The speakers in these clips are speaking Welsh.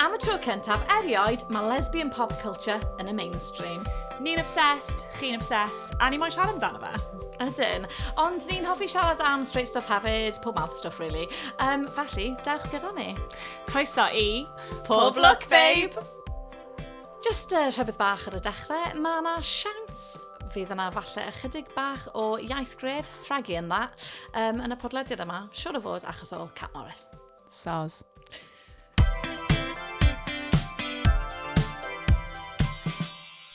Am y tro cyntaf erioed, mae lesbian pop culture yn y mainstream. Ni'n obsessed, chi'n obsessed, a ni moyn siarad amdano fe. Ydyn. Ond ni'n hoffi siarad am straight stuff hefyd, pob mouth stuff really. Um, felly, dewch gyda ni. Croeso i... Pob Look Babe! Jyst uh, rhybydd bach ar y dechrau, mae yna siawns fydd yna falle ychydig bach o iaith gref rhagu yn dda um, yn y podlediad yma, siwr o fod achos o Cat Morris. Soz.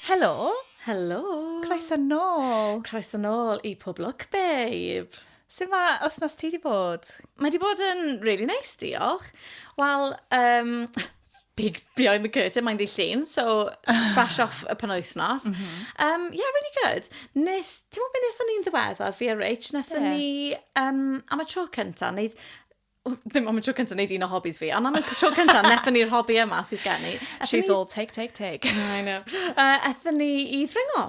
Helo! Helo! Croeso nôl! Croeso nôl i Pob Look, babe! Sut mae wythnos ti wedi bod? Mae wedi bod yn really nice, diolch. Wel, um, big behind the curtain, mae'n ddillun, so fresh off y penwythnos. Mm -hmm. um, yeah, really good. Nes, ti'n mwyn beth o'n i'n ddiweddar fi a Rich, nes yeah. ni um, am y tro cynta, wneud ddim am y tro cynta wneud un o hobbies fi, ond am y tro cynta, nethon ni'r hobby yma sydd gen i. She's all take, take, take. I know. Uh, ethon ni i ddringo.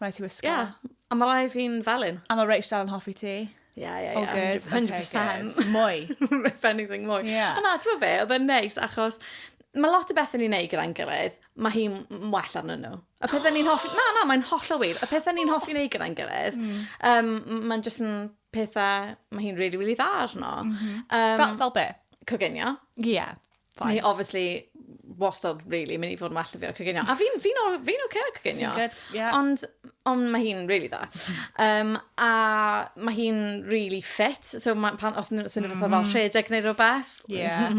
Rhaid ti wisgo. Ie, a mae rai fi'n felyn. A mae Rach dal yn hoffi ti. Ie, ie, ie. 100%. Mwy. If anything, mwy. Yeah. A na, ti'n meddwl be, oedd e'n neis, achos mae lot o bethau ni'n neud gyda'n gilydd, mae hi'n well arnyn nhw. Y pethau ni'n hoffi... Na, na, mae'n holl o wir. Y pethau ni'n hoffi neud gyda'n gilydd, mm. um, mae'n jyst yn pethau, mae hi'n really, really dda arno. Mm -hmm. um, fel, fel be? Coginio. Ie. Yeah. Fine. Ni obviously wastad really mynd i fod yn well fi ar coginio. A fi'n fi oce fi okay ar coginio. Good, yeah. Ond, ond mae hi'n really dda. Um, a mae hi'n really fit. So ma, pan, os ydyn nhw'n fath o fel rhedeg neu rhywbeth. Yeah.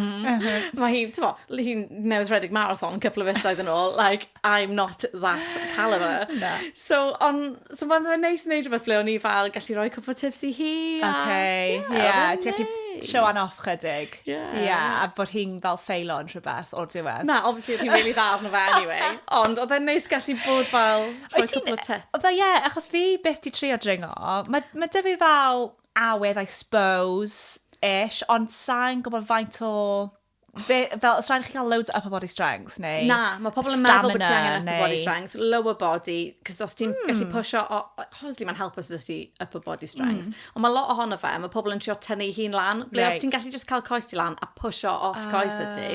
mae hi'n, ti'n mo, hi'n newydd rhedeg marathon couple of fisoedd yn ôl. Like, I'm not that calibre. Na. So on' so ma'n fe'n neis neud rwbeth ble o'n i fel gallu roi cwpwl o tips i hi a... Oce. Ie. Ie. Odd e'n neis. Ti gallu showan off chydig. Ie. Ie a bod hi'n fel ffeilo yn rhwbeth o'r diwedd. Na obviously odd hi'n rili dda arno fe anyway ond odd e'n neis gallu bod fel rhoi cwpwl o tips. Wyt ti'n yy fel ie achos fi byth 'di trio dringo ma' ma' 'dy fi fel awydd I suppose ish ond sai'n gwbod faint o fe, fel, os rhaid chi cael loads o upper body strength, neu... Na, mae pobl yn meddwl bod ti angen upper body strength, lower body, cos os ti'n mm. gallu pwysio, obviously mae'n help os ydych ti upper body strength, mm. ond mae lot ohono fe, mae pobl yn trio tynnu hi'n lan, ble right. os ti'n gallu just cael coes ti lan a pwysio off oh. coes y ti,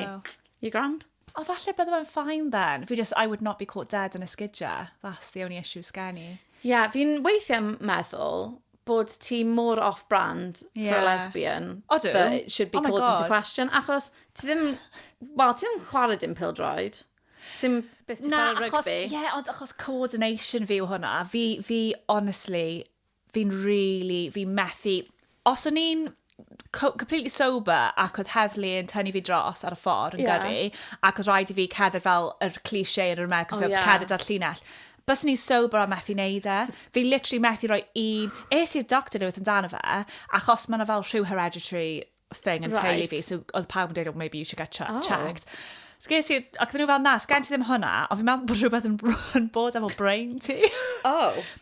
you grand? O, falle bydde fe'n fine then. Fi just, I would not be caught dead yn esgidja. That's the only issue sgen i. Ie, yeah, fi'n weithiau meddwl bod ti mor off-brand yeah. for a lesbian Odw. that it should be oh called into question. Achos ti ddim... Wel, ti ddim chwarae dim pildroed. Ti'n beth ti'n chwarae rygbi? Ie, yeah, ond achos coordination fi yw hwnna. Fi, fi honestly, fi'n really, fi methu... Os o'n i'n co- completely sober ac oedd heddlu yn tynnu fi dros ar y ffordd yn Ie. gyrru ac oedd rhaid i fi cerdded fel yr cliché yn yr American O, Films, ie. cerdded ar llinell. Bys ni'n sober a methu neud e. Fi literally methu rhoi un... Es i'r doctor unwaith amdano fe, achos mae yna fel rhyw hereditary thing yn teulu Right. fi, so oedd pawb yn dweud, oh, maybe you should get che- Oh. checked. So ges i, ac oedden nhw fel, na, sgen ti ddim hwnna, ond fi'n meddwl bod rhywbeth yn, yn bod efo brain ti. Oh.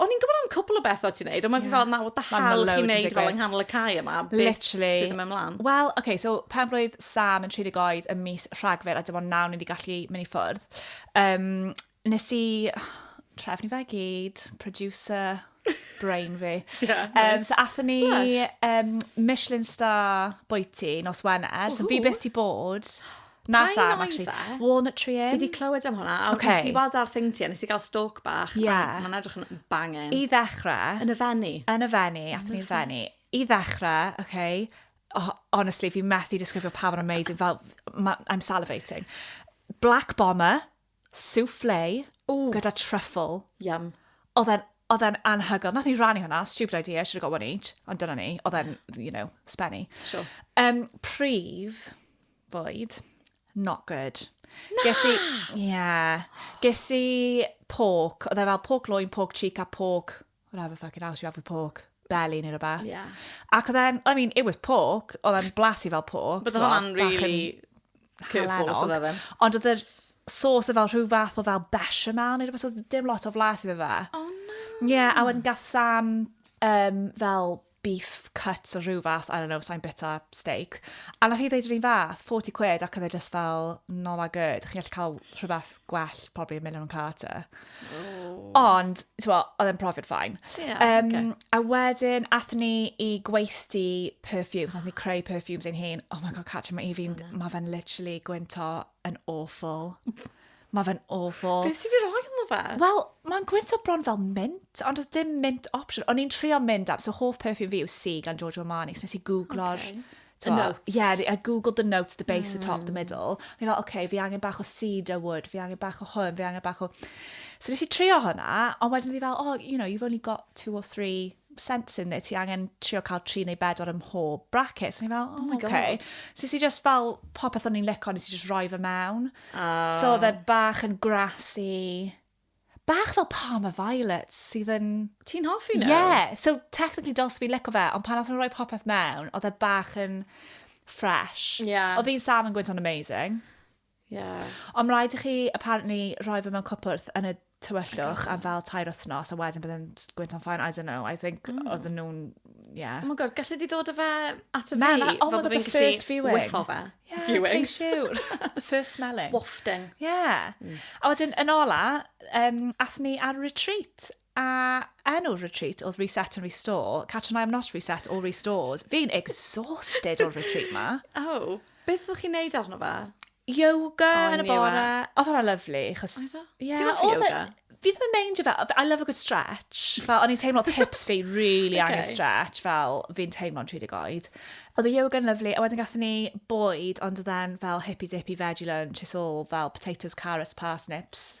o'n i'n gwybod am cwpl o bethau ti'n neud, ond mae'n yeah. fel, nawr da hal chi'n neud fel yng nghanol y cae yma, beth sydd yn mynd mlaen? Wel, oce, okay, so pen blwydd Sam yn 30 oed y mis rhagfyr, a dim ond nawr ni wedi gallu mynd i ffwrdd. Um, nes i trefnu fe gyd, producer, brain fi. yeah, nice. um, so athyn ni um, Michelin star bwyty nos Wener, so fi beth ti bod. Na Kind Sam, of actually. fe. Walnut Tree Inn. Fi di clywed am hwnna, a Ocê. nes i weld ar thing ti, a nes i gael stalk bach, Ie. a mae'n edrych yn bangin. I ddechrau, Yn y fenni. yn y fenni, athyn ni'n fenni. I ddechrau, okay, oh, honestly, fi methu disgrifio pa mor amazing, fel, ma, I'm salivating. Black Bomber, souffle gyda truffle. Yum. Oedd e'n, oedd e'n anhygoel. Nath ni rannu hwnna, stupid idea, I should have got one each. Ond dyna ni, oedd e'n, you know, spenny. Sure. Um, prif fwyd, not good. Na! Ges i, yeah. Ges i pork, oedd e fel pork loin, pork cheek a pork I'll have a fucking house, you have a pork belly neu rhywbeth. Yeah. Ac oedd e'n, I mean, it was pork, oedd e'n blasu fel pork. But oedd hwnna'n really curveballs oedd efe. Ond oedd yr sauce fel rhyw fath o fel bechamel neu rhywbeth, oedd dim lot o flas iddo fe. Oh no. Yeah, a wedyn gath Sam um, fel beef cuts o rhyw fath, I don't know, sai'n bita steak. A nath hi ddeud yr un fath, 40 quid, ac oedd e just fel, not that good. Chi'n gallu cael rhywbeth gwell, probably a million carter. Ond, ti'n gwybod, oedd e'n profiad ffain. Ie, Um, ocê. A wedyn, athyn ni i gweithdy perfumes, athyn ni creu perfumes ein hun. Oh my god, Catrin, mae Evie'n, Stunning. mae fe'n literally gwynto yn awful. Mae fe'n awful. Beth sydd wedi rhoi yma fe? Wel, mae'n gwynt o bron fel mint, ond oedd dim mint option. O'n i'n trio mynd am, so hoff perfume fi yw Si gan Giorgio Armani, so nes i googlo'r... Okay. The notes. Yeah, I googled the notes, the base, mm. the top, the hmm. middle. O'n i'n fel, oce, okay, fi angen bach o cedar wood, fi angen bach o hwn, fi angen bach o... So nes i trio hwnna, ond wedyn fi fel, oh, you know, you've only got two or three sense in there, ti angen trio cael tri neu bedwar ym mhob bracket. So o'n i fel, oh, oh okay. God. So si just fel popeth o'n i'n licio, nes i just roi fe mewn. Oh. So oedd e bach yn grassy. Bach fel Palmer Violets sydd yn... Ti'n hoffi nhw? Yeah. So technically dyls fi licio fe, ond pan oedd nhw'n rhoi popeth mewn, oedd e bach yn fresh. Yeah. Oedd hi'n Sam yn gwynt o'n amazing. Yeah. Ond rhaid i chi, apparently, rhoi fe mewn cwpwrth yn y tywyllwch am fel tair wythnos, a wedyn byddai'n gwynt o'n ffain, I don't know, I think mm. oedd nhw'n, yeah. Oh my god, gallu di ddod o fe at y fi? Na, na, oh my god, the first viewing. Whiffo fe. Yeah, viewing. Sure. the first smelling. Wafting. Yeah. Mm. A wedyn, yn ola, um, ath ni ar retreat A enw'r retreat oedd Reset and Restore. Catch and I am not reset or restored. Fi'n exhausted o'r retreat ma. Oh, beth ydych chi'n neud arno fe? Yoga oh, yn y bore. Oedd hwnna lyflu. Chos, yeah, Ti'n offi yoga? Fi ddim yn meindio fe. I love a good stretch. Fel, o'n i'n teimlo pips fi really okay. angen stretch. Fel, fi'n teimlo'n 30 oed. Oedd y yoga yn lyflu, a wedyn gatho ni bwyd, ond oedd e'n fel hippy-dippy veggie lunch, it's all fel potatoes, carrots, parsnips.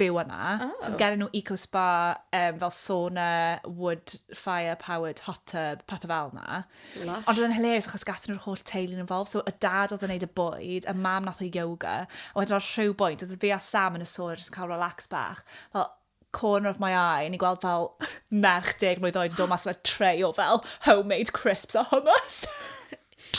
byw yma. Oh. So oedd gen nhw eco spa, um, fel sauna, wood fire powered hot tub, pethau fel yna. Lush. Ond oedd yn hilarious achos gath nhw'r holl teulu yn involved. So y dad oedd yn neud y bwyd, y mam nath o yoga. A wedyn ar rhyw bwynt, oedd fi a Sam yn y sôn yn cael relax bach. Fel, corner of my eye, ni gweld fel merch deg mlynedd oed yn dod mas fel tray o fel homemade crisps a hummus.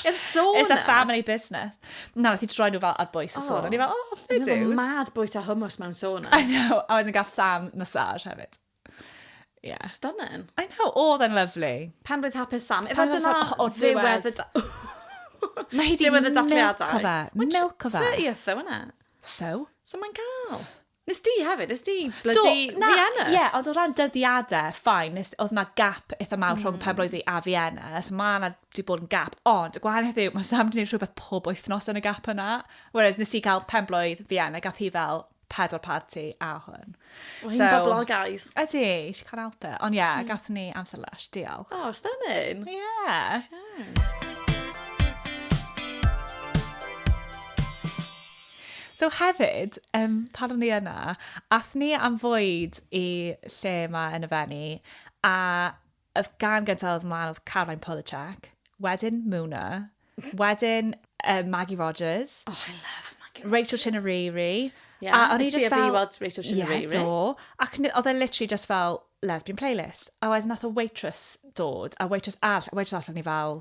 Yr sôn It's a family business. Na, nath i troi nhw fel ar bwys y sôn. O'n i fel, oh, fair dues. Mae'n mad bwyta hummus mewn sôn. I know. A wedyn gath Sam massage hefyd. Yeah. Stunning. I know, oedd yn lyflu. Pan roedd hapus Sam. Efo dyna ddiwedd y... Mae hi di milco fe. Milco fe. Ie, fe So? So mae'n gael. Nes di hefyd, nes di blydi Vienna. Ie, yeah, ond o ran dyddiadau, ffain, oedd yna gap eitha mawr mm. rhwng pen blwydd fi a Vienna, so mae yna wedi bod yn gap, ond y gwahaniaeth yw, mae Sam wedi gwneud rhywbeth pob wythnos yn y gap yna, whereas nes i cael pen blwydd Vienna, gath hi fel pedwar party a hwn. Mae hi'n so, boblogaidd. Ydy, she can't help it. Ond ie, yeah, mm. gath ni amser lush, diolch. Oh, stunning. Ie. Yeah. Sure. So hefyd, um, pan o'n i yna, ath ni am fwyd i lle yma yn y fenni, a y gan gyntaf oedd mlaen oedd Caroline Polachek, wedyn Muna, wedyn uh, Maggie Rogers. Oh, I love Maggie Rogers. Rachel Chinariri. Yeah. A o'n i just fel... Weld Rachel Chinariri. Yeah, do. Ac oedd e literally just fel lesbian playlist. A wedyn nath o waitress dod, a waitress all, waitress all o'n i fel,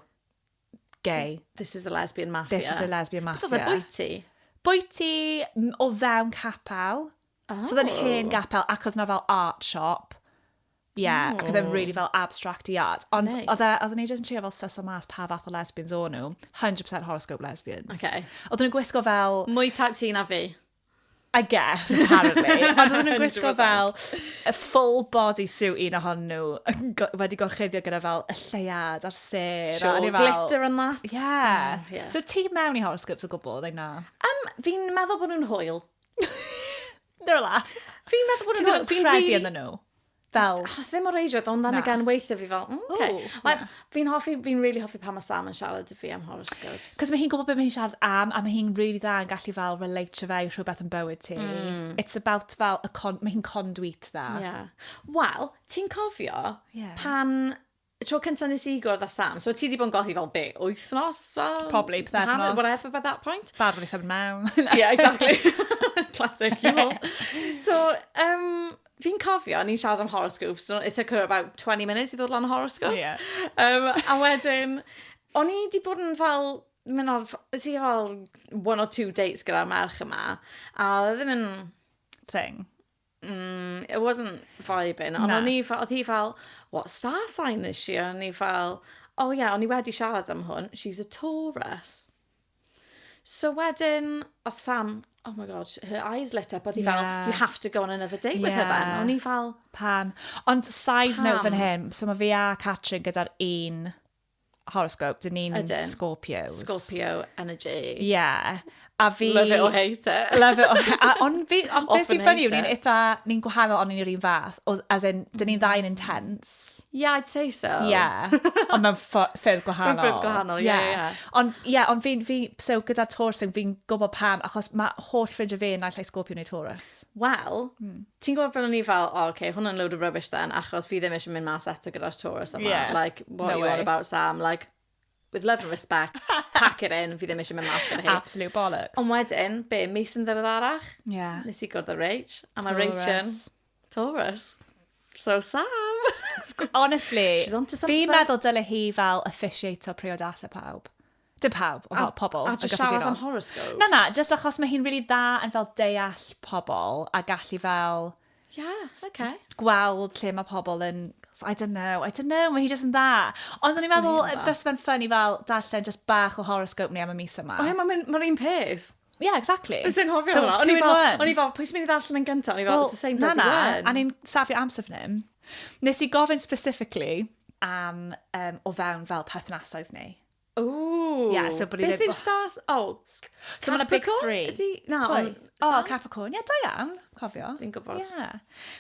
gay. This is the lesbian mafia. This is a lesbian mafia. Beth oedd e, bwyty? Bwyty o fewn capel. Oh. So oedd yn hen gapel ac oedd na fel art shop. Yeah, oh. ac oedd e'n really fel abstract i art. Ond nice. oedd e, oedd ni jyst yn trio fel syso mas pa fath o lesbians o'n nhw. 100% horoscope lesbians. Okay. Oedd nhw'n gwisgo fel... Mwy type ti na fi. I guess, apparently. Ond oedden nhw'n gwisgo fel y full body suit un ohon nhw wedi gorchuddio gyda fel y lleiad a'r ser. Sure, fel... glitter and that. Yeah. Mm, yeah. So ti mewn i horoscopes o gwbl, neu na? Um, fi'n meddwl bod nhw'n hwyl. They're a laugh. Fi'n meddwl bod nhw'n hwyl. Fi'n credu yn nhw. fel... Achos ddim o reidrwydd, ond then again, weithiau fi fel, mm, okay. Ooh, like, yeah. Fi'n hoffi, fi'n really hoffi pan mae Sam yn siarad i fi am horoscopes. Cos mae hi'n gwybod beth mae hi'n siarad am, a mae hi'n really dda yn gallu fel relate to fe i rhywbeth yn bywyd ti. Mm. It's about fel, y con, mae hi'n conduit dda. Yeah. Wel, ti'n cofio yeah. pan y tro cyntaf nes i gwrdd â Sam, so ti wedi bod yn golli fel be, wythnos? Fel, Probably, pythefnos. Whatever by that point. Bad wedi sefyd mewn. yeah, exactly. Classic, you know. so, um, fi'n cofio, ni'n siarad am horoscopes, so it took her about 20 minutes i ddod lan horoscopes. Oh, yeah. um, a wedyn, o'n i wedi bod yn fel mynd o'r... Ys i fel one or two dates gyda'r merch yma, a ddim yn... Thing. mm, it wasn't vibing. Ond o'n i fel, oedd hi fel, what star sign is she? O'n i fel, oh yeah, o'n i wedi siarad am hwn, she's a Taurus. So wedyn, oedd Sam, oh my god, her eyes lit up, oedd hi fel, you have to go on another date yeah. with her then. O'n i fel... Pam? Ond side Pam? note fan hyn, so mae fi a Catrin gyda'r un horoscope, dyn ni'n Scorpios. Scorpio energy. Ie. Yeah. A fi... Love it or hate it. Love it or hate it. Ond fi, ond beth sy'n ffynnu, ni'n eitha, ni'n gwahanol ond ni'n yr un fath. As in, dyn ni'n ddau'n intense. Yeah, I'd say so. Yeah. ond mewn ffyrdd gwahanol. Mewn ffyrdd gwahanol, ie, yeah, ie. Yeah. Yeah. Ond, ie, yeah, ond fi'n, fi, so gyda Taurus, fi'n gwybod pam, achos mae holl ffrindiau fi yn naill ai Scorpio neu Taurus. Wel, mm. ti'n gwybod beth o'n i fel, oh, okay, hwnna'n load of rubbish then, achos fi ddim eisiau mynd mas eto gyda'r Taurus yma. Yeah. Like, what no you way. on about, Sam? Like, with love and respect, pack it in, fi ddim eisiau mynd mas gyda hi. Absolute bollocks. Ond wedyn, be, mis yn ddiweddarach, yeah. nes i gwrdd o Rach, a mae Rach yn Taurus. So Sam! Honestly, fi meddwl dyle hi fel officiato priodasau pawb. Dim pawb, ond fel pobl. A just siarad am horoscopes? Na, na, just achos mae hi'n really dda yn fel deall pobl a gallu fel... Yeah, okay. ...gweld lle mae pobl yn... I don't know, I don't know, mae hi just yn dda. Ond o'n i'n meddwl, bys fe'n ffynnu fel darllen just bach o horoscope ni am y mis yma. O ie, mae'n un peth. Yeah, exactly. Bys i'n hofio hwnna. O'n i'n fel, pwy sy'n mynd i ddarllen yn gyntaf? O'n i'n fel, it's the same bloody one. Na, na, a ni'n safio amser fan hyn. Nes i gofyn specifically am um, o fewn fel perthnasoedd ni. Ooh. Yeah, so bod ni ddim... Beth yw'r stars? Oh, so mae'n big three. Ydy, na, on, oh, so, Capricorn. Yeah, da iawn, cofio. Fi'n gwybod. Yeah.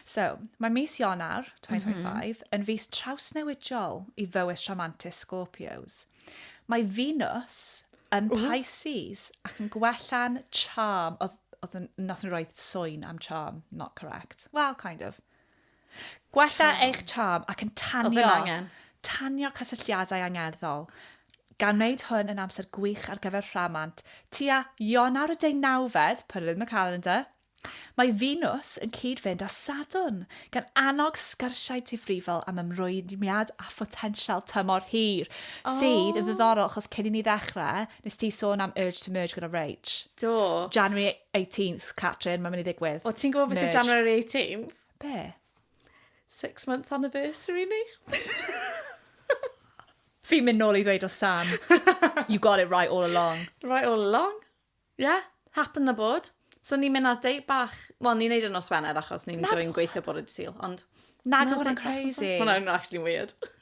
So, mae mis Ionar 2025 mm -hmm. yn fus trawsnewidiol i fywys rhamantus Scorpios. Mae Venus yn Ooh. Pisces ac yn gwella'n charm. Oedd, oedd nath nhw roed soen am charm, not correct. Well, kind of. Gwella eich charm ac yn tanio, tanio cysylltiadau angerddol, gan wneud hwn yn amser gwych ar gyfer rhamant. Tua Ionawr y deunawfed, put it in the calendar, mae Venus yn cyd-fynd â Sadwrn, gan annog sgyrsiau difrifol am ymrwymiad a photensial tymor hir, sydd yn ddiddorol achos cyn i ni ddechrau, nes ti sôn am Urge to Merge gyda Rach. Do. January 18th, Catrin, mae'n mynd i ddigwydd. O, ti'n gwybod beth yw January 18th? Be? Six month anniversary ni. Fi'n mynd nôl i ddweud o Sam, you got it right all along. Right all along. Yeah, happen na bod. So ni'n mynd ar date bach, wel ni'n neud yn nos Wener achos ni'n dwy'n gweithio bod y dydd ond... Nag oedd yn crazy. Hwna'n actually weird.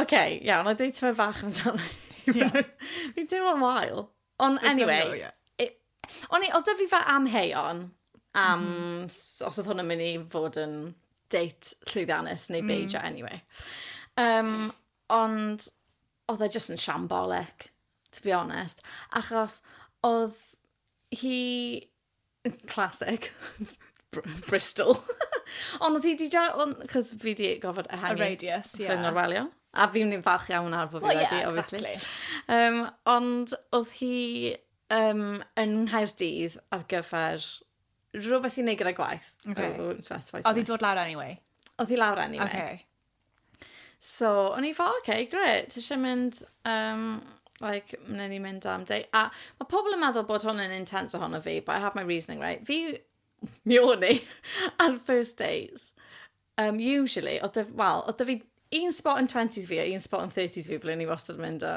OK, iawn, a dweud ti'n fach amdano. Yeah. Fi'n teimlo'n wael. Ond anyway, go, yeah. it, o'n i, oedd fi fe amheuon am mm. os oedd hwn yn mynd i fod yn date llwyddiannus neu beidio mm. anyway. Um, ond oedd e jyst yn siambolic, to be honest. Achos oedd hi Classic. Bristol. Ond oedd hi di da- ond... Cos fi di gofod ehangu... Y radius, ie. ...fy ngorwelio. A fi'n i'n falch iawn nawr bod fi wedi... Wel, ie, exactly. Um, ond oedd hi um, yn Nghaerdydd ar gyfer rhywbeth i wneud gyda gwaith. Okay. Oedd hi dod lawr anyway? Oedd hi lawr anyway. Okay. So, o'n i fel, oce, okay, gret, ti eisiau mynd, um, like, wnawn ni mynd am day. A mae pobl yn meddwl bod hwn yn intense ohono fi, but I have my reasoning, right? Fi, mi o'n i, ar first days, um, usually, oedd dy, well, oedd dy fi un spot yn 20s fi a un spot yn 30s fi, ble ni wastad yn mynd o,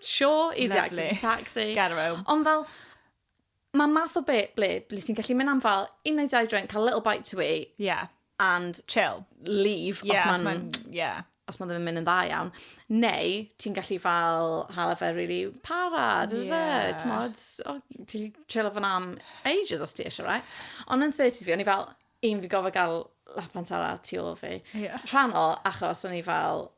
Sure, easy Lovely. access taxi. Get home. Ond fel, mae math o be, ble, ble sy'n gallu mynd am fel un neu dau drink, cael little bite to eat. Yeah. And chill. Leave, yeah, os mae'n... Yeah. Os mae ddim yn mynd yn dda iawn. Neu, ti'n gallu fel hala fe really para, dwi dwi dwi, ti'n modd, ti'n chill of an am ages os ti eisiau, right? Ond yn 30s fi, o'n i fel, un fi gofio gael lap antara tu ôl fi. Yeah. Rhan o, achos o'n i fel,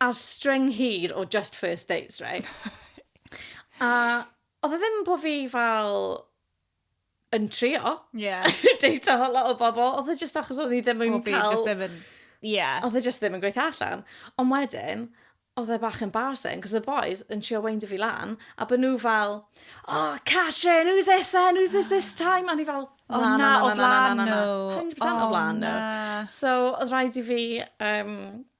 Ar string hir o just first dates, right? A oedd e ddim po fi fel yn trio. Yeah. Deita o lot o bobl. Oedd e just achos oedd ni ddim yn cael... Oedd e just ddim yn... Yeah. Oedd e just ddim yn gweithio allan. Ond wedyn, oedd e bach embarrassing, cos the boys yn trio weindio fi lan, a bod nhw fel, oh, Catrin, who's this then, who's this this time? A ni fel, oh, na, na, o flan nhw. 100% o flan nhw. So, oedd rhaid i fi um,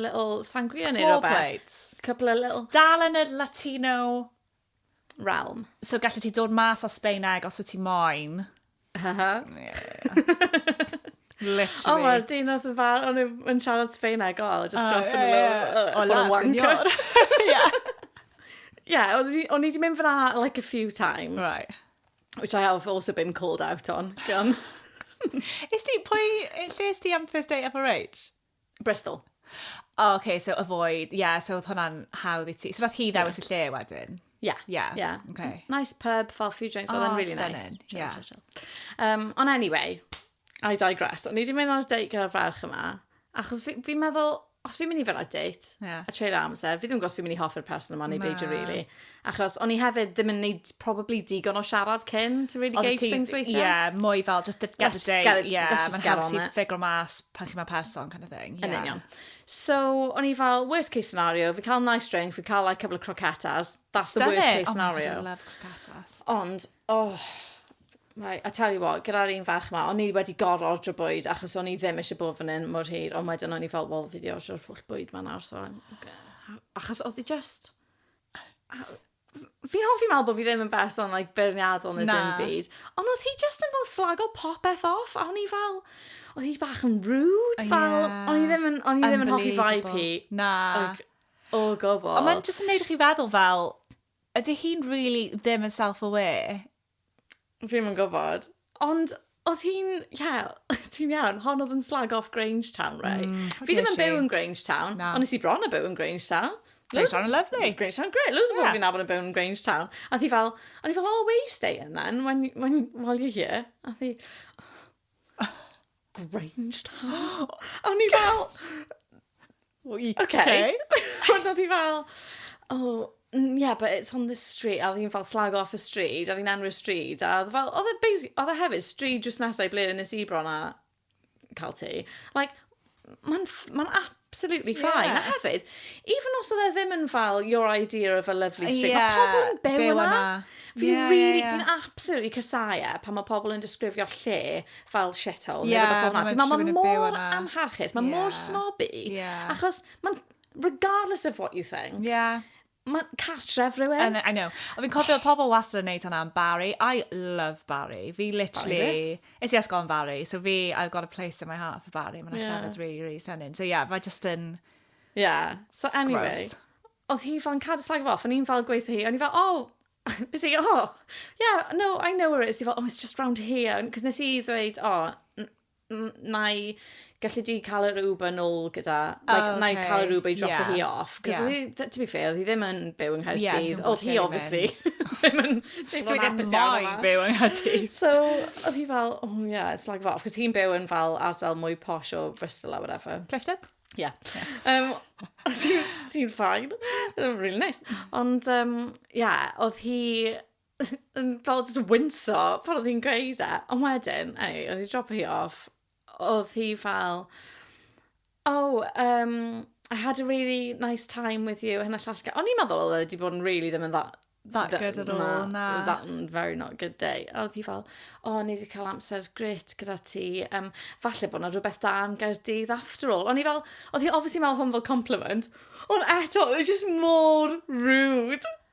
little sangria neu rhywbeth. Small plates. Couple of little... Dal yn yr Latino realm. So gallu ti dod mas o Sbeineg os y ti moyn. Ha ha. Literally. O, mae'r dinas yn fawr, o'n i'n siarad Sbeineg, o, just oh, drop yn y lo. O, la, senor. Yeah. Yeah, o'n i wedi mynd fyna like a few times. Right. Which I have also been called out on. Gan. Is ti, pwy, lle is ti am first date FRH? Bristol. O, oh, okay, so avoid, ie, yeah, so oedd hwnna'n hawdd i ti. So nath hi ddewis yeah. y lle wedyn? Ie. Yeah. Yeah. yeah. Okay. Nice pub, fel few drinks, oh, oedd yn really stunning. nice. Chill, yeah. chill, chill. Um, ond anyway, I digress. O'n i wedi mynd ar y date gyda'r ferch yma, achos fi'n fi meddwl, os fi'n mynd i fel ar date, yeah. a treulio amser, fi ddim yn gwybod os fi'n mynd i hoffi'r person yma neu beidio really. Achos o'n i hefyd ddim yn neud probably digon o siarad cyn to really gauge things weithiau. Yeah, mwy fel just the, get the day. Get it, yeah, mae'n haws i ffigro mas pan chi mae person kind of thing. Yeah. Yn union. So, o'n i fel, worst case scenario, fi cael nice drink, fi cael like, a couple of croquetas. That's Stunning. the worst case scenario. Oh my God, I love croquetas. Ond, oh, Right, I tell you what, gyda'r un ferch yma, o'n i wedi gorau ordro bwyd achos o'n i ddim eisiau bod fan hyn mor hir, ond wedyn o'n i fel, wel, fi wedi ordro'r pwll bwyd ma nawr, so... Okay. Achos oedd i just fi'n hoffi meddwl bod fi ddim yn berson like beirniadol neu dim byd. Ond oedd hi just yn fel slago popeth off, a o'n i fel, oedd hi bach yn rude, fel, yeah. o'n i ddim yn, o'n i ddim yn hoffi vibe hi. Na. Like, o gobl. Ond mae'n just yn neud i chi feddwl fel, ydy hi'n really ddim yn self-aware? Fi'm yn gwybod. Ond oedd hi'n, ie, ti'n iawn, hon oedd yn slag off Grangetown, right? Mm, fi ddim yn byw yn Grangetown, Na. ond nes i bron a byw yn Grangetown. Grangetown yn lyflu. Grangetown, great. Loads o bobl yeah. fi'n nabod yn byw yn Grangetown. A thi fel, o'n i fel, oh, where you staying then, when, when, while you're here? A thi, Grange Town. A o'n i fel... Oce. A oedd hi fel, oh, mm, yeah, but it's on this street. A oedd hi'n fel slag off y stryd, a oedd hi'n enwi'r stryd. A oedd e fel, oedd e basi- oedd e hefyd stryd jyst nesau ble nes i bron a cael ti. Like, mae'n ff- mae'n ap- absolutely fine. Yeah. A hefyd, even os oedd e ddim yn fel your idea of a lovely street, yeah. mae pobl yn byw, byw yna. Fi yeah, really, yeah, yeah. absolutely casau e pan mae pobl yn disgrifio lle fel shithole. Yeah, neu rhywbeth fel Mae mor amharchus, mae yeah. mor snobby. Yeah. Achos, man, regardless of what you think, yeah. Mae cartref rhywun. I know, I know. Ond fi'n cofio, pobl wastad yn neud hwnna am Barry. I love Barry. Fi literally... Barry Is i ysgol yn Barry, so fi, I've got a place in my heart for Barry. Mae'n yeah. llefydd really, really stunning. So yeah, mae just yn... Yeah. So It's anyway, gross. oedd hi fel yn cadw slag off, o'n i'n fel gweithio hi, o'n i'n fel, oh, Nes i, oh, yeah, no, I know where it is. Di fel, oh, it's just round here. Cos nes i ddweud, oh, na i gallu di cael yr Uber nôl gyda, like, oh, okay. na i cael yr Uber i dropo yeah. hi off. Cos yeah. hi, to be fair, hi ddim yn byw yng Nghaerdydd. Yes, oedd hi, obviously, ddim yn teimlo yn hapus iawn yma. byw yng Nghaerdydd. so, oedd hi fel, oh yeah, it's like that. Cos hi'n byw yn fel ardal mwy posh o Bristol or whatever. Clifton? Yeah. Um, Ti'n ffain. really nice. Ond, um, yeah, oedd hi yn fel jyst yn winso pan oedd hi'n gweud e, ond wedyn, eniwe, o'n i 'di dropio hi off, oedd hi fel, oh, um, I had a really nice time with you, hyn a llall. O'n i'n meddwl oedd e wedi bod yn really ddim yn dda, That good at all, na. na. That mm, very not good day. A oedd hi fel, o, oh, ni wedi cael amser grit gyda ti. Um, falle bod yna rhywbeth da am Gaerdydd after all. O'n i fel, oedd hi obviously meddwl hwn fel compliment. Ond eto, oedd e just mor rude.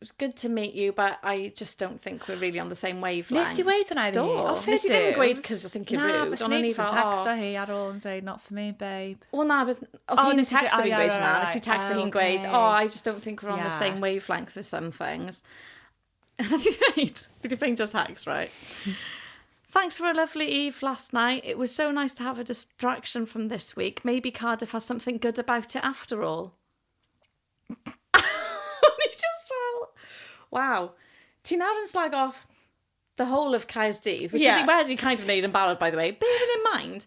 it's good to meet you, but I just don't think we're really on the same wavelength. Nes ti weid hwnna i fi? Do. O, fe ti ddim yn gweud cos I think you're rude. Na, fes nes yn text o hi ar ôl yn dweud, not for me, babe. O na, oedd hi'n text o fi'n gweud hwnna, nes i text o hi'n gweud, oh, I just don't think we're on the same wavelength with some things. A na ti dweud, fi di ffeindio text, right? Thanks for a lovely eve last night. It was so nice to have a distraction from this week. Maybe Cardiff has something good about it after all. O'n i just fel, waw. Ti nawr yn slag off the whole of Caerdydd, which yeah. oedd i wedi kind of wneud yn barod, by the way. Bearing in mind,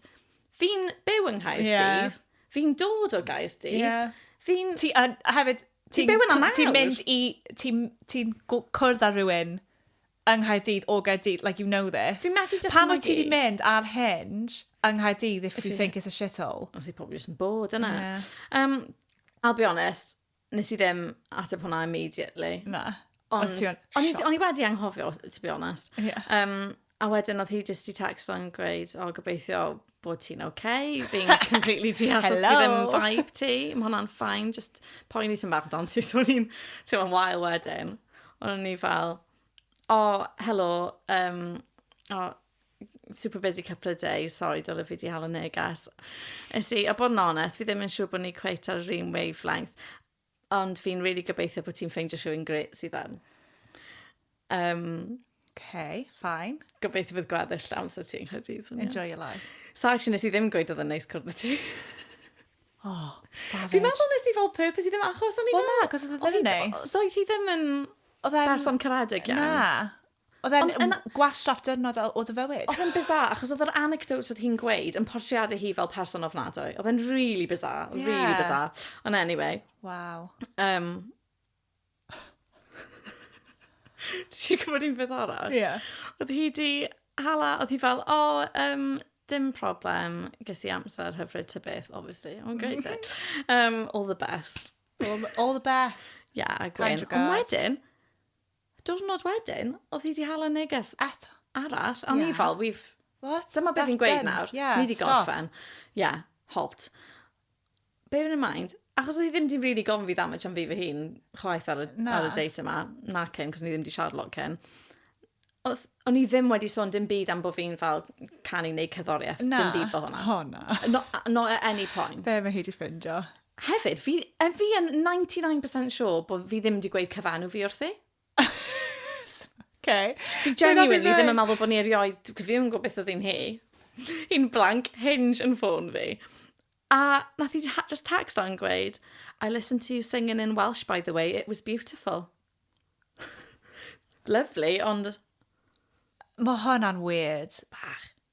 fi'n byw yng Nghaerdydd, yeah. fi'n dod o Gaerdydd, yeah. fi'n... Ti, uh, hefyd, ti'n byw yna nawr. Ti'n mynd i, ti'n ti cwrdd â rhywun yng Nghaerdydd o Gaerdydd, like you know this. Fi'n methu dychmygu. Pam wyt ti wedi mynd ar Hinge yng Nghaerdydd if, if you think it's a shithole? Os i pobl jyst yn bod yna. Yeah. Um, I'll be honest, nes i ddim ateb hwnna immediately. Na. Ond, o'n i wedi anghofio, to be honest. Yeah. Um, a wedyn oedd hi jyst i text o'n gweud, o oh, gobeithio bod ti'n okay, being completely deall os bydd yn vibe ti. Mae hwnna'n ffain, just poen i sy'n bach dan ti, so ni'n teimlo'n wael wedyn. Ond ni fel, o, oh, helo, um, o, oh, super busy couple of days, sorry, dylai fi di hel y neges. Ys i, a bod yn onest, fi ddim yn siŵr bod ni cweit ar yr un wavelength. Ond fi'n really gobeithio bod ti'n ffeindio rhywun gret sydd am. Um, okay, fine. Gobeithio bydd gweddill amser ti'n credu. Enjoy your life. So actually nes i ddim gweud oedd yn neis cwrdd y ti. oh, savage. Fi'n meddwl nes i fel purpose i ddim achos o'n i fel... Wel na, cos oedd e ddim yn neis. Doedd hi ddim yn... Oedd e'n... Berson caredig iawn. Na. Oedd e'n yn... gwastraff dyrnod o dy fywyd. Oedd e'n bizarre, achos oedd yr anecdotes oedd hi'n gweud yn portreadu hi fel person ofnadwy. Oedd e'n really bizarre, yeah. really bizarre. Ond anyway. Wow. Um, Did you gwybod un beth arall? Ie. Yeah. Oedd hi di hala, oedd hi fel, o, oh, um, dim problem, ges i amser hyfryd ty beth, obviously. O'n gweud e. Um, all the best. All, all the best. Yeah, a Gwyn. Ond wedyn, Diwrnod wedyn, oedd hi 'di hala neges eto, arall, a o'n i fel, we've... What? Dyma be fi'n gweud nawr, ni 'di gorffen. Ie, halt. Bear in mind, achos oedd hi ddim 'di rili gofyn fi that much am fi fy hun, chwaith ar y, ar y date yma, na cyn, cos ni ddim 'di siarad lot cyn. Oedd, o'n i ddim wedi sôn dim byd am bo' fi'n fel canu neu cerddoriaeth, dim byd fel hwnna. Na, o na. Not, not at any point. Be ma hi 'di ffindio? Hefyd, fi, er fi yn 99% sure bod fi ddim wedi gweud cyfanw fi wrthi. okay. Fi genuinely ddim yn meddwl bod ni erioed, fi ddim yn gwybod beth oedd hi'n hi. Hi'n blank hinge yn ffôn fi. A nath i just text o'n gweud, I listened to you singing in Welsh, by the way, it was beautiful. Lovely, ond... Mae hwnna'n weird. Bach.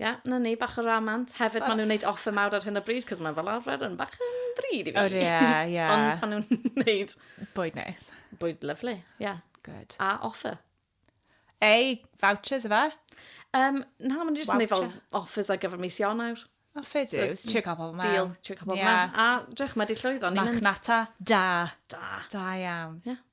Ie, yeah, na ni, bach o ramant. Hefyd, maen nhw'n gwneud offer mawr ar hyn o bryd, cos mae fel arfer yn bach yn ddrud i fi. O, ie, ie. Ond maen nhw'n gwneud... Bwyd neis. Bwyd lyflu, ie. Yeah. Good. A offer. Ei, vouchers efe? Um, na, maen nhw'n just yn gwneud fel offers ar gyfer mis Ionawr. O, ffyd yw. So, Tio cael pobl mewn. Deal, tio cael pobl yeah. mewn. A, drech, mae di llwyddo. Machnata, da. Da. Da iawn. Ie. Yeah.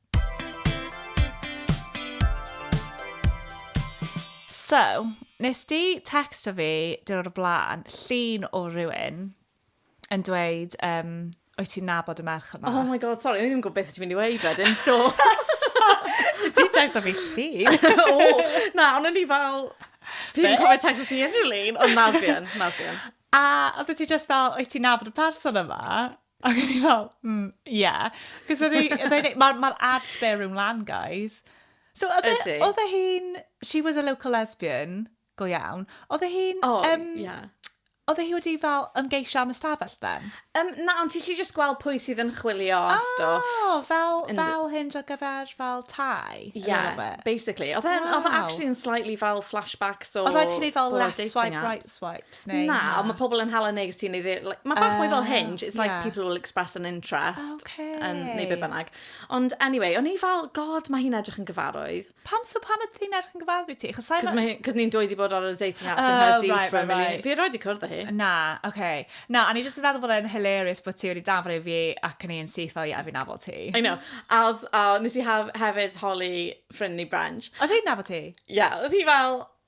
So, nes di texto fi dyrwr y blaen, llun o rywun yn dweud, um, o'i ti'n nabod y merch yma? Oh my god, sorry, o'n i ddim yn gwybod beth ti'n mynd i weid wedyn. Do. Nes di texto fi llun? o, na, ond o'n i fel... Fi'n yn cofio texto ti unrhyw lun, ond nawr fi yn, nawr fi yn. A oedd ti just fel, o'i ti'n nabod y person yma? Ac o'n i fel, mm, ie. Cos oedd e... Mae'r ma ad spare room lan, guys. So, oedd e, e oedd e hi'n... She was a local lesbian, go iawn. Oedd e hi'n... Oh, um, yeah. Oedd e hi wedi fel ymgeisio am ystafell then? Um, na, ond ti'n lli just gweld pwy sydd yn chwilio a oh, stwff. O, fel, in... fel hyn ar gyfer fel tai? Yeah, basically. Oedd e wow. actually yn slightly fel flashbacks o... Oedd rhaid chi fel left swipe, right swipe. Sneu, na. Na, ond mae pobl yn hala neges ti'n ei ddi... Like, mae bach uh, mwy fel ah, hinge. It's like yeah. people will express an interest. Okay. Um, neu be bynnag. Ond anyway, o'n i fel, god, mae hi'n edrych yn gyfarwydd. Pam so pam ydy hi'n edrych yn gyfarwydd ti? Cos ma... ni'n dweud i bod ar y dating apps oh, yn Nghaerdydd right, for right, a million. Right. Fi erioed i cwrdd â hi. Na, oce. Okay. Na, a ni jyst yn feddwl bod e'n hilarious bod ti wedi danfod i fi ac yn ei yn syth fel, ie, fi'n nafod ti. I know. A, a nes i hef, hefyd holi ffrind ni Branch. Oedd hi'n nafod ti? Ie, yeah, oedd hi fel,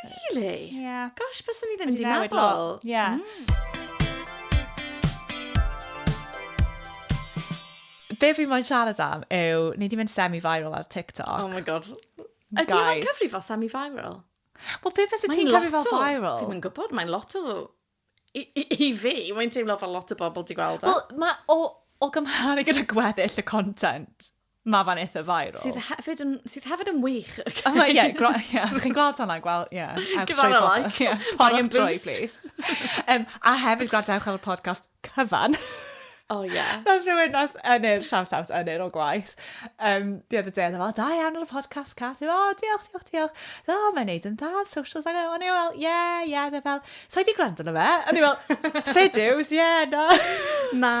Really? Yeah. Gosh, bys ni ddim wedi meddwl. Yeah. Mm. Be fi'n moyn siarad am yw, ni wedi mynd semi-viral ar TikTok. Oh my god. Ydy hwnna'n cyfri fel semi-viral? Wel, pe bys ti'n cyfri fel viral? Fi'n mynd gwybod, mae'n lot o I, i, i fi, mae'n teimlo fel lot o bobl di gweld e. Wel, mae o, o gymharu gyda gweddill y content, mae fan eitha viral. Sydd hefyd yn, sydd hefyd yn wych. A mae, ie, gro- ie, os chi'n gweld hwnna, gwel, ie. ewch Give trwy that a pobl. like. Ie, Buy and poriwch trwy, boost. please. Em, a hefyd gwrandewch ar y podcast cyfan. Oh, yeah. Nath rhywun nath yn i'r siaws out yn i'r o gwaith. Um, di oedd y deg, fel, da iawn ar y podcast, Cath. O, oh, diolch, diolch, diolch. O, oh, mae'n neud yn dda, socials ag o'n i fel, ie, ie, dde fel, so i di gwrando na fe? O'n i fel, fideos, ie, na. Na.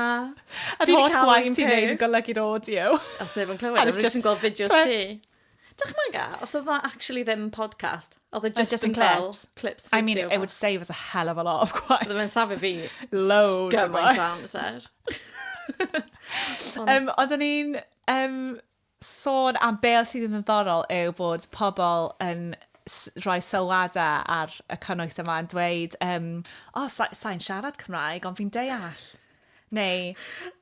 A di holl gwaith ti'n neud yn golygu'r audio. Os ddim yn clywed, a fi jyst yn gweld fideos ti. Dychmyga, os oedd o actually ddim podcast, oedd e just, just yn cael clips. I mean, it would save us a hell of a lot of gwaith. Oedd e'n safio fi loads of gwaith. amser. um, ond o'n i'n um, sôn am be sydd yn ddiddorol yw bod pobl yn rhoi sylwadau ar y cynnwys yma yn dweud, um, o, oh, sa'n sa siarad Cymraeg, ond fi'n deall. Neu,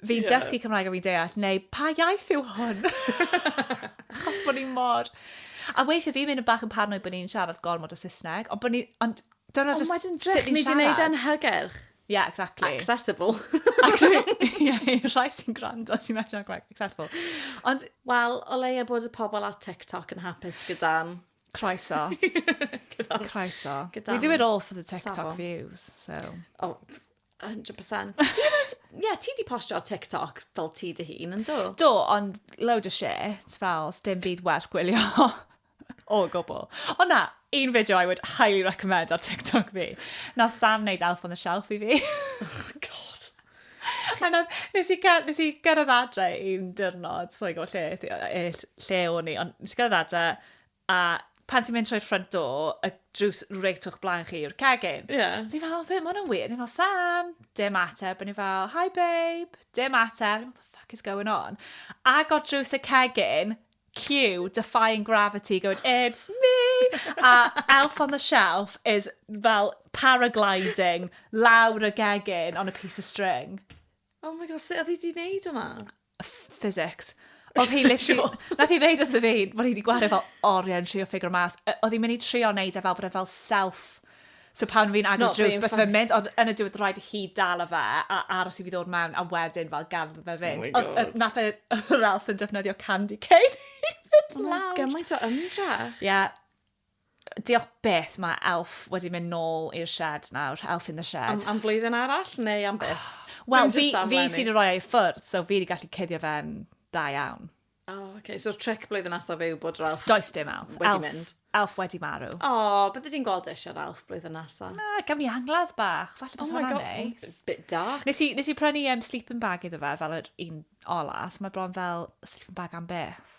fi'n yeah. dysgu Cymraeg a fi'n deall, neu pa iaith yw hwn? Achos bod ni mor... A weithio fi'n mynd yn bach yn parnoi bod ni'n siarad gormod o Saesneg, ond bod ni... Ond dyna just sut ni'n siarad. Ond ni wedi gwneud e'n hygyrch. Yeah, exactly. Accessible. Ie, i'r rhai sy'n gwrando sy'n medru gwneud accessible. Ond, wel, o leia bod y pobl ar TikTok yn hapus gyda'n... Croeso. gyda'n... Croeso. Gyda'n... We do it all for the TikTok safon. views, so... Oh, A hundred percent. Ti hefyd, ie, ti 'di postio ar TikTok fel ti dy hun, yndw? Do, ond load o shit, fel, sdim byd werth gwylio o gwbl. Ond na, un fideo I would highly recommend ar TikTok fi. Na Sam wneud Elf on the Shelf i fi. Oh, God. A na, nes i, nes i gyrraedd adre un dyrnod, so i go lle, lle o'n i, ond nes i gyrraedd adre, A pan ti'n mynd trwy'r front door, y drws reit o'ch blaen chi yw'r cegin. Ie. So ni fel, be, ma hwnna'n weird. Ni fel, Sam, dim ateb. A ni fel, hi babe, dim ateb. What the fuck is going on? Agor drws y cegin, cue, defying gravity, going, it's me! A Elf on the Shelf is fel paragliding lawr y gegin on a piece of string. Oh my God, sut oedd hi di wneud hwnna? physics. Oedd hi literally... Nath hi ddeud wrth y fi, bod hi wedi gwario fel oriau yn trio ffigur mas. Oedd hi'n mynd i trio wneud e fel bod e fel self... So pan fi'n agor drws, bys fe'n mynd, ond yn y diwedd rhaid i hi dal o fe, a aros i fi ddod mewn, a wedyn fel gan fe fynd. Oh my God. Nath e Ralph yn defnyddio candy cane i fynd lawr. Gymaint o ymdrech. Ie. Yeah. Diolch beth mae Elf wedi mynd nôl i'r shed nawr, Elf in the Shed. Am, am flwyddyn arall neu am beth? Oh, Wel, fi, fi sy'n rhoi ei ffwrdd, so fi wedi gallu cuddio fe'n da iawn. Oh, okay. So trick blwyddyn nesaf yw bod yr elf... Does dim elf. Wedi elf, mynd. Elf wedi marw. O, oh, bydde ti'n gweld eisiau'r elf blwyddyn nesaf. Na, gafon ni angladd bach. Falle bys oh hwnna'n neis. Bit dark. Nes i, nes i prynu um, sleeping bag iddo fe fel yr un ola, so mae bron fel sleeping bag am beth.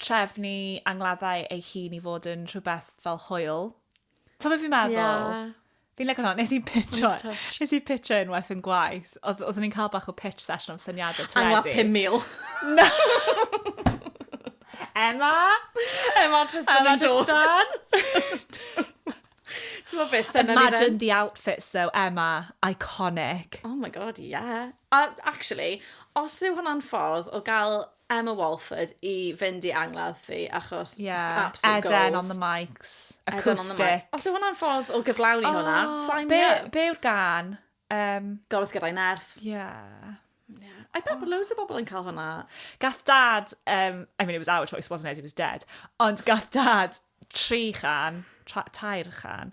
trefnu angladdau ei hun i fod yn rhywbeth fel hwyl. Ta beth fi'n meddwl? Yeah. Fi'n lygo hwnna. Nes i pitcho, nes i pitcho unwaith yn gwaith. Oedd, oeddwn i'n cael bach o pitch session am syniadau teledu. Angladd 5,000. Na. Emma! Emma Tristan yn dod. Imagine the outfits though, Emma. Iconic. Oh my god, yeah. Uh, actually, os yw hwnna'n ffordd o gael Emma Walford i fynd i angladd fi, achos yeah. absolute goals. Eden on the mics, acoustic. Os yw hwnna'n ffordd o gyflawni oh, hwnna, sign be, up. Be yw'r gan? Um, Gorwth gyda'i ners. Yeah. Yeah. I bet oh. loads o bobl yn cael hwnna. Gath dad, um, I mean it was our choice, wasn't it? He was dead. Ond gath dad tri chan, tair chan,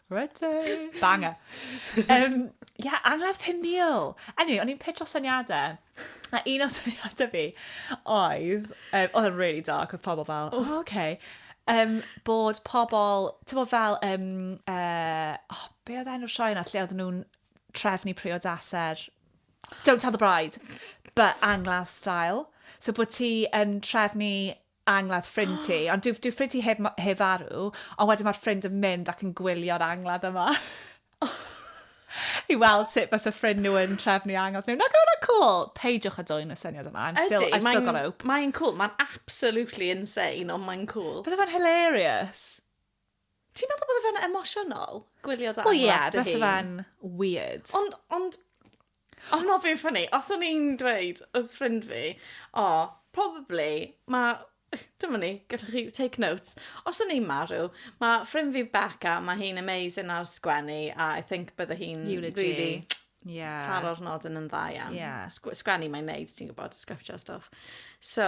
Rydw! Banger. Um, yeah, angladd 5,000. Anyway, o'n i'n pitch o syniadau. A un o syniadau fi oedd, um, oedd yn really dark, oedd pobl fel, oh, okay. Um, bod pobl, ti'n bod fel, um, uh, oh, be oedd enw'r sioe yna, lle oedd nhw'n trefnu priodaser? Don't Tell the Bride, but angladd style. So bod ti yn trefnu angladd ffrind ti, ond dyw, dyw ffrind ti heb, heb farw, ond wedyn mae'r ffrind yn mynd ac yn gwylio'r angladd yma. I weld sut bys y ffrind nhw yn trefnu angladd nhw. Nag o'n o'n cool? Peidiwch a dwy'n y syniad yma. I'm still, I've still got hope. Mae'n cool, mae'n absolutely insane, ond mae'n cool. Bydde fe'n hilarious. Ti'n meddwl bod fe'n emosiynol? Gwylio dy angladd dy hun? O ie, beth o fe'n weird. Ond, ond, ond mae fe'n ffynnu. Os o'n i'n dweud, oedd ffrind fi, o, oh, probably, mae Dyma ni, gyda chi take notes. Os o'n i'n marw, mae ffrind fi Becca, mae hi'n amazing ar sgwennu, a I think bydde hi'n really yeah. taro'r nod yn yn dda iawn. Yeah. Sgwennu mae'n neud, ti'n gwybod, sgriptio stuff. So,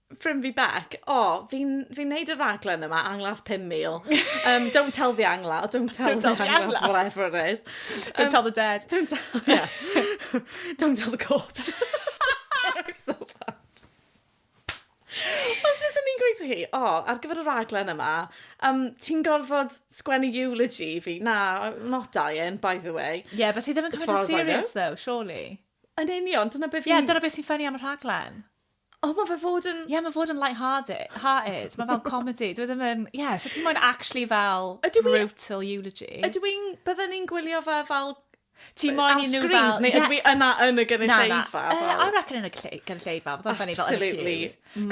ffrind fi Bec, o, oh, fi'n fi neud y raglen yma, angladd 5,000. Um, don't tell the angla, don't tell, don't tell the, the angla, angla, whatever it is. Don't um, tell the dead. Don't tell, yeah. don't tell the corpse. so bad. Os bys ni'n gweithio hi, o, oh, ar gyfer y raglen yma, um, ti'n gorfod sgwennu eulogy fi? Na, I'm not dying, by the way. Ie, yeah, fes i ddim yn cymryd yn serious, though, surely. Yn union, dyna beth fi'n... Ie, yeah, dyna beth sy'n ffynnu am y rhaglen. O, mae fe fod yn... Ie, mae fod yn light-hearted. Hearted. Mae fel comedy. Dwi ddim yn... Ie, yeah, so ti'n moyn actually fel brutal eulogy. Ydw i'n... Byddwn ni'n gwylio fe fel... Ti'n moyn i nhw fel... Ar screens, neu ydw i yna yn y gynulleidfa? Na, na. I reckon yn y gynulleidfa. Byddwn fel yn y cyd. Absolutely.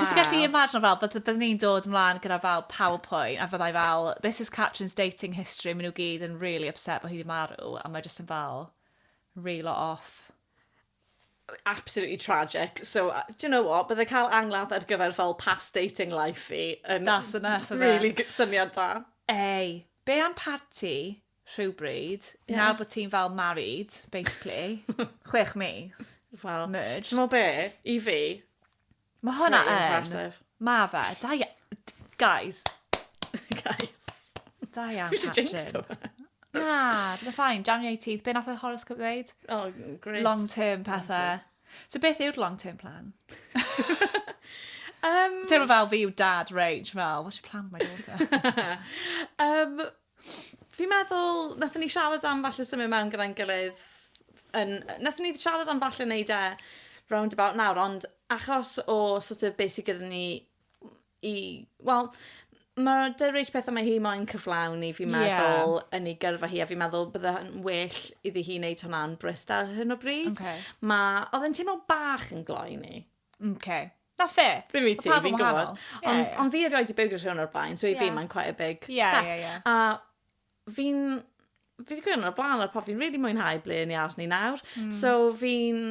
Cos gallu imagine fel, byddwn ni'n dod ymlaen gyda fel PowerPoint, a fyddai fel, this is Catherine's dating history, maen nhw gyd yn really upset bod hi wedi marw, a mae jyst yn fel, reel off. absolutely tragic. So, uh, do you know what? Bydde cael angladd ar gyfer fel past dating life fi yn That's enough of really it. syniad da. Ei, be am parti rhywbryd, yeah. nawr bod ti'n fel married, basically, chwech mis, well, merged. Ti'n be, i fi, Mae hwnna yn. Impressive. Mae fe. Da ia... Guys. Guys. Da iawn, Catrin. Fi jinx o fe. Na, bydd ffain. January 18th. Be nath y horoscope dweud? Oh, great. Long term pethau. So beth yw'r long term plan? um, Teimlo fel fi yw dad range fel, what's your plan my daughter? um, Fi'n meddwl nathon ni siarad am falle symud mewn gyda'n gilydd yn yy nathon ni siarad am falle neud e round about nawr ond achos o sort of be' sy gyda ni i wel ma' 'da Rach pethe ma' hi moyn cyflawni fi'n meddwl... Ie. ...yn ei gyrfa hi a fi'n meddwl bydde yn well iddi hi neud hwnna'n brysd ar hyn o bryd. Oce. Ma' odd e'n teimlo bach yn gloi i ni. Mh 'k. Not fair. Ddim i ti, fi'n gwybod. Mae pawb yn wahanol. Yeah, yeah. Ond on fi erioed i byrgyr rhywun o'r blaen, so i yeah. fi mae'n quite a big yeah, step. Yeah, yeah. A fi'n... Fi wedi gweud o'r blaen o'r pop, fi'n really mwynhau ble ni ar ni nawr. Mm. So fi'n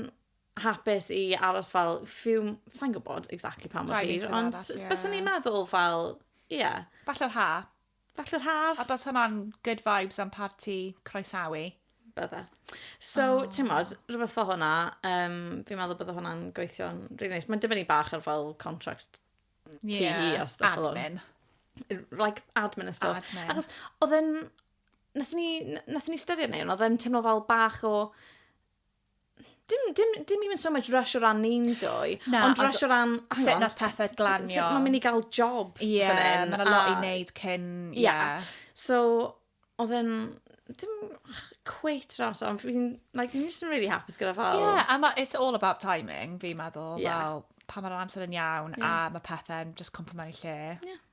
hapus i aros fel few... Sa'n gwybod exactly pa mor hir, ond yeah. byswn i'n meddwl fel... Ie. Yeah. Falle'r ha. Falle yr haf. A bys hwnna'n good vibes am parti croesawu? Bydde. So, oh. ti'n modd, rhywbeth fel hwnna, um, fi'n meddwl bydde hwnna'n gweithio'n rili really nice. Mae'n dibynnu bach ar fel contract yeah. ti hi a stuff fel hwn. Admin. Like, admin a stuff. Admin. Achos, oedd yn... Nath ni, nath ni styried neu, oedd yn teimlo fel bach o Dim, dim, dim even so much rush o ran ni'n dwy, Na, ond ond- rush o ran... hang Sut on, nath pethau Sut glanio. mae'n mynd i gael job Ie, fan hyn? mae'n a lot i a- wneud cyn... Ie. Yeah. So, oedd e'n... Dim cweit yr amser, ond fi'n... Like, fi'n just yn really hapus gyda fel... Ie, a ma, it's all about timing, fi'n meddwl. Ie. Fel, pa mae'r amser yn iawn, a Ie. mae pethau'n just cwmpo mewn i lle. Ie.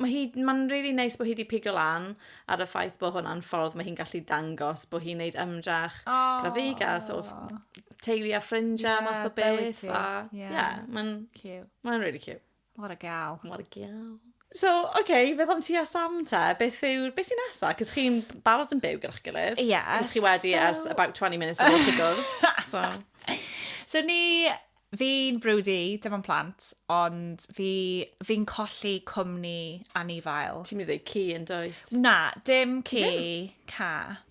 mae hi, mae'n rili really neis bod hi wedi pigo lan ar y ffaith bod hwnna'n ffordd mae hi'n gallu dangos bod hi'n neud ymdrach oh. gyda fi gael sort of teulu a ffrindiau yeah, math o beth. A, yeah, yeah mae'n cute. Mae'n really cute. What a gal. What a gal. So, oce, okay, beth am ti a Sam te? Beth yw, beth sy'n nesa? Cos chi'n barod yn byw gyda'ch gilydd. Yes. Cos chi wedi so... ers about 20 minutes o'r gwrdd. So. so ni Fi'n brwdi, dim ond plant, ond fi, fi'n colli cwmni anifail. Ti'n mynd i ddweud ci yn dweud? Na, dim ci, cath.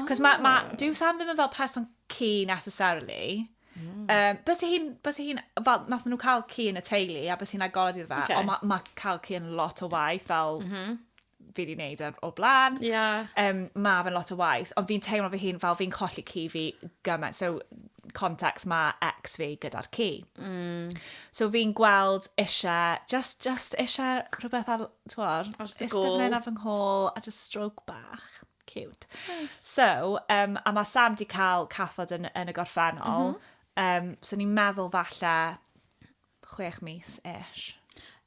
Cos mae, ma, oh. dyw Sam ddim yn fel person ci necessarily. Mm. Um, bys i hi'n, bys i hi'n, fel, nath nhw cael ci yn y teulu, a bys hi'n agored iddo fe, okay. ond mae ma cael ci yn lot o waith, fel, mm -hmm. fi wedi gwneud ar o blaen. Yeah. Um, mae fe'n lot o waith, ond fi'n teimlo fy hun fel fi'n colli ci fi gymaint. So, contacts mae ex fi gyda'r ci. Mm. So fi'n gweld eisiau, just, just eisiau rhywbeth ar, twor, eistedd mewn ar fy nghôl a just stroke bach. Cute. Nice. So, um, a mae Sam di cael cathod yn, yn y gorffennol. Mm -hmm. um, so ni'n meddwl falle chwech mis ish.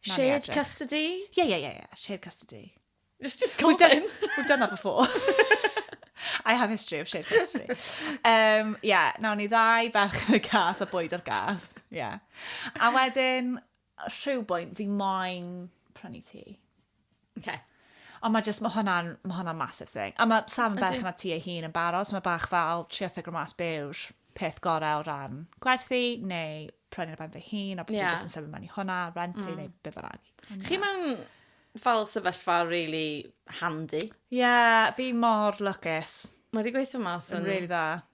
Shared custody? Yeah, yeah, yeah, yeah. Shared custody. It's just we've done, we've done that before. I have history of shared custody. Um, yeah, nawn ni ddau ferch yn y gath a bwyd o'r gath. Yeah. A wedyn, rhyw bwynt, fi moyn prynu ti. Okay. Ond mae jyst, mae hwnna'n, mae hwnna'n massive thing. A mae Sam yn bach yna ti ei hun yn barod, so mae bach fel trio ffigro mas be yw'r peth gorau o ran gwerthu, neu prynu'r ben fy hun, a beth yeah. jyst yn sefyll mewn i hwnna, rentu, mm. neu be bynnag. Chi mewn fel sefyllfa really handy. Ie, yeah, fi mor lwcus. Mae wedi gweithio mas yn... Yn really dda.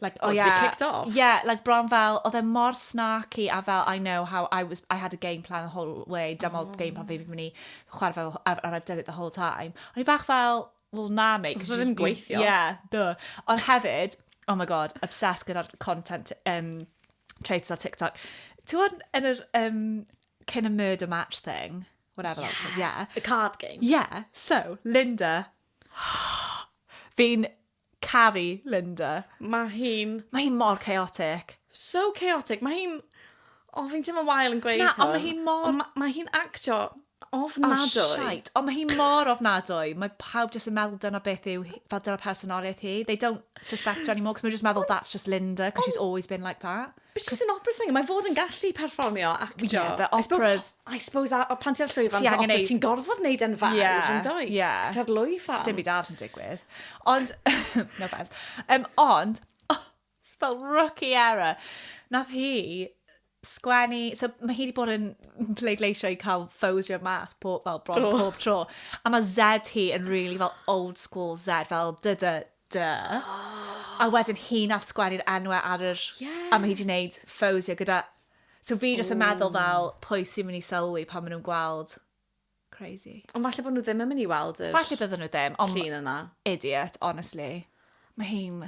Like, oh, oh yeah. to be kicked off? Yeah, like bron fel, oedd e mor snarky a fel, I know how I was, I had a game plan the whole way, dyma oh. game plan fi fi'n mynd i chwarae fel, and I've done it the whole time. Ond i bach fel, well, na, mate. Oedd ddim gweithio. Yeah, duh. Ond hefyd, oh my god, obsessed gyda'r content um, traits ar TikTok. Ti'n yn yr um, cyn y murder match thing, whatever yeah. that's called, yeah. The card game. Yeah, so, Linda, fi'n Caru Linda. Mae hi'n... Mae hi mor chaotic. So chaotic. Mae hi'n... O, fi'n teimlo wael yn gweud hwn. Na, ond mae hi mor... Ond mae ma hi'n actio ofnadwy. Oh, shite. Ond mae hi mor ofnadwy. Mae pawb jyst yn meddwl dyna beth yw, fel dyna personoliaeth hi. They don't suspect her anymore, cos mae'n jyst meddwl, that's just Linda, cos she's always been like that. But she's an opera singer. Mae fod yn gallu perfformio ac... Ie, yeah, but operas... I suppose, a, pan ti'n ar llwyfan, ti angen neud... Ti'n gorfod neud yn fawr, yeah, yn dweud. Ie. Yeah. Cos ar lwyfan. Sdim byd arall yn digwydd. Ond, no offense. Um, ond, oh, spell rookie error. Nath hi sgwennu... So, mae hi wedi bod yn pleidleisio i cael ffosio mas pob, fel, bron pob tro. A mae Z hi yn really fel old school Z, fel dy dy Duh. Oh. A wedyn hi'n allsgwennu'r enwau ar yr... Yeah. A mae hi wedi gwneud ffowsio gyda... So fi jyst yn meddwl fel, pwy sy'n mynd i sylwi pan maen nhw'n gweld? Crazy. Ond falle bod nhw ddim yn mynd i weld yr... Falle bydden nhw ddim, ond... Llun yna. Idiot, honestly. Mae hi'n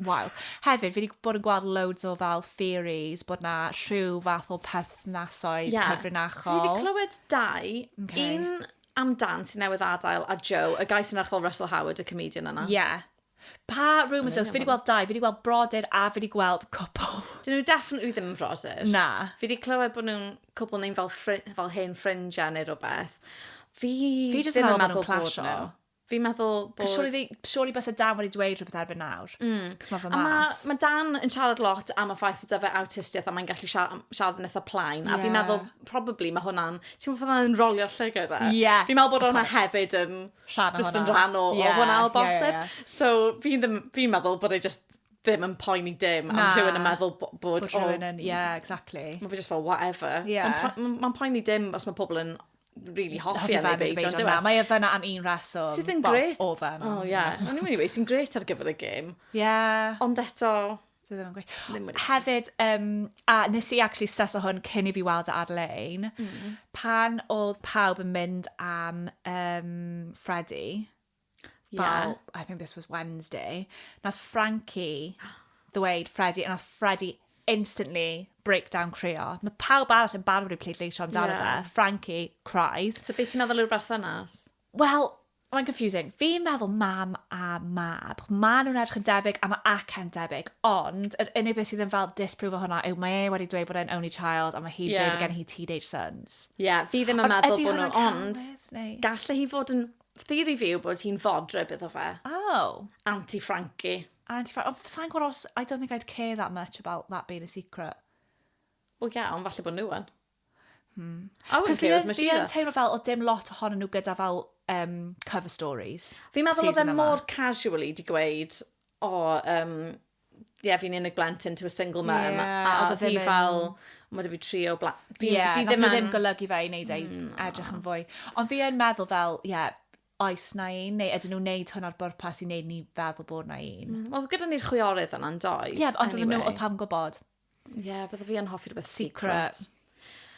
wild. Hefyd, fi wedi bod yn gweld loads o fel theories bod na rhyw fath o perthnasoedd yeah. cyfrinachol. Fi wedi clywed dau. Okay. Un am Dan sy'n newydd adael a Joe, y guy sy'n edrych fel Russell Howard, y comedian yna. Ie. Yeah. Pa rumours yw? Fi wedi gweld dau, fi wedi gweld brodyr a fi wedi gweld cwpl. Dyn nhw definitely ddim yn frodyr. Na. Fi wedi clywed bod nhw'n cwpl neu'n fel, fel hen ffrindiau neu rhywbeth. Fi, fi ddim yn meddwl bod nhw. Fi'n meddwl bod... Surely, surely bys y Dan wedi dweud rhywbeth erbyn nawr. Mm. Cos mae fy mas. A mae ma Dan yn siarad lot am y ffaith bod fe awtistiaeth a mae'n gallu siarad, siarad yn eitha plain. Yeah. A fi'n meddwl, probably, mae hwnna'n... Ti'n meddwl bod hwnna'n rolio llygau da? Ie. Yeah. Fi'n meddwl bod hwnna hefyd yn... Rhan o just yn rhan o, yeah. o hwnna o bosib. Yeah, yeah, yeah. So, fi'n fi meddwl bod e just ddim yn poeni dim am rhywun yn meddwl bod... Bod rhywun yn, ie, yeah, exactly. Mae fe just fel, whatever. Yeah. Mae'n ma poeni dim os mae pobl yn really hoffi Ellie Beige, ond dewes. Mae e fyna am un reswm. Sydd yn gret. O, fan. O, ie. O'n i'n mynd i weid, sy'n gret ar gyfer y gêm. Ie. Ond eto... Dwi ddim yn gweud. Hefyd, um, a nes i actually sys o hwn cyn i fi weld e ar-lein, mm. pan oedd pawb yn mynd am um, Freddy, Fel, I think this was Wednesday. Nath Frankie ddweud Freddie, a nath Freddie instantly break down creo. Mae pawb arall yn barod i pleidleisio amdano yeah. fe. Frankie cries. So beth ti'n meddwl yw'r berthynas? Wel, mae'n confusing. Fi'n meddwl mam a mab. Mae nhw'n edrych yn debyg a mae acen debyg. Ond yr unig beth sydd yn fel disprove o hwnna yw mae e wedi dweud bod e'n only child a mae hi'n yeah. dweud gen hi teenage sons. Ie, yeah, fi ddim yn meddwl bod nhw, ond galle hi fod yn Theori fi yw bod hi'n fodryb iddo fe. Oh. Auntie Frankie. Auntie Frankie. Ond sa'n gwybod os... I don't think I'd care that much about that being a secret. Wel ie, ond falle bod nhw yn. Hmm. I wouldn't care as much either. Fi'n teimlo fel o dim lot ohonyn nhw gyda fel um, cover stories. Fi'n meddwl oedd e mor casually di gweud, o, um, ie, yeah, fi'n unig blentyn to a single mum, yeah, a oedd hi fel, mae fi tri o blant. Fi, yeah, fi ddim, yn... ddim golygu fe i wneud ei mm. edrych yn fwy. Ond fi yn meddwl fel, ie, yeah, oes na un, neu ydyn nhw'n neud hwn ar bwrpas i wneud ni feddwl bod na un. Mm, oedd gyda ni'r chwiorydd yna'n doedd. Ie, yeah, ond anyway. nhw oedd pam gwybod. Ie, yeah, bydde fi yn hoffi rhywbeth secret. secret.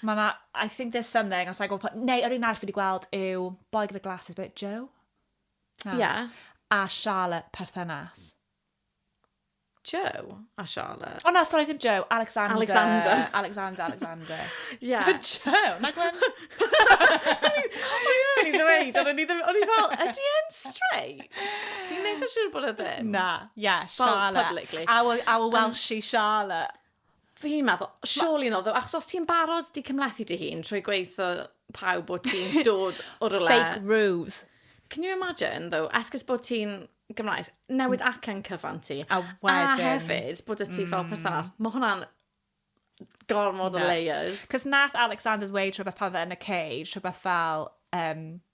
Mae na, I think there's something, os I go, neu yr un arall fi wedi gweld yw Boy Gyda Glasses, but Joe? Ie. Yeah. A Charlotte perthynas. Joe a Charlotte. O oh, na, sorry, dim Joe. Alexander. Alexander. Alexander, Alexander. Ie. Yeah. Joe, na gwen. O'n i ddweud, o'n i ddim, o'n i fel, ydy e'n straight? Dwi'n neitha siŵr bod e ddim. Na, ie, yeah, Charlotte. Publicly. Our, our Welshie Charlotte. Fi'n meddwl, surely not, achos os ti'n barod di cymlethu dy hun trwy gweithio pawb bod ti'n dod o rwle... Fake ruse. Can you imagine, though, esgus bod ti'n Gymraes, newid mm. acen cyfan ti. A wedyn. A hefyd, bod y ti mm. fel perthynas. Mae hwnna'n gormod o layers. Cos nath Alexander ddweud rhywbeth pan fe yn y cage, rhywbeth fel, um,